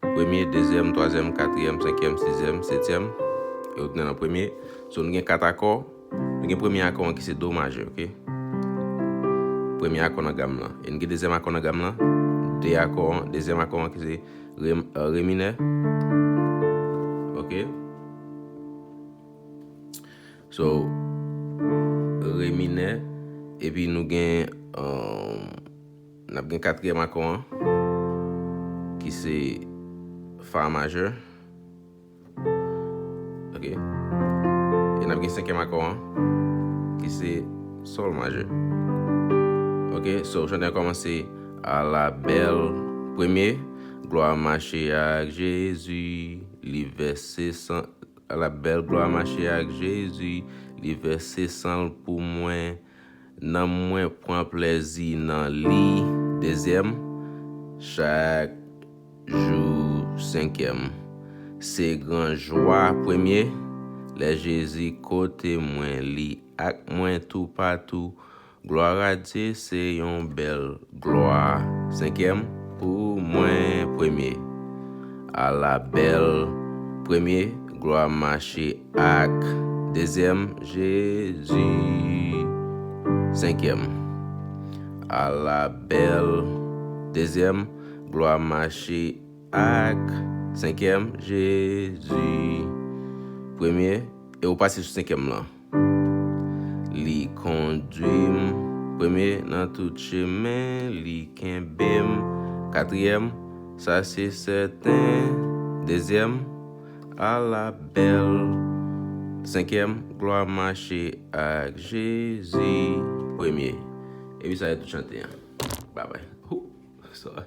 Premye, dezyèm, twazyèm, katriyèm, senkyèm, sizyèm, setyèm, yo tounen nan premye. So nou gen kat akò, nou gen premye akò an ki se do majè, ok. Premye akò nan gam lan. E nou gen dezyèm akò nan gam lan, de akò an, dezyèm akò an ki se re, re minè, ok. So, re minè, epi nou gen. N ap gen katriyèm akò an ki se Fa majè. Ok. E n ap gen senkyèm akò an ki se Sòl majè. Ok. So, chante an kòmanse, Ala bèl premye, glwa mache ak Jezi, li vèse san. Ala bèl glwa mache ak Jezi, li vèse san l pou mwen. Nanm mwen pran plèzi nan li dezyèm chak jou senkyèm se gran jwa premye lè Jezi kote mwen li ak mwen toupatou glwaradye se yon bèl Glwa senkyèm pou mwen premye. A la bèl premye glwa mache ak dezyèm Jezi senkyèm A la bèl dezyèm glwa mache ak senkyèm Jezi premye e ou pase sou senkyèm lan. Li kondwi m premye nan tout chemen, li kenbe m katriyèm, sa se sèten dezyèm, ala bèl senkyèm, glwa mache ak Jezi premye. Epi sa yo tout chante an. Babay. Ooh! Sorry.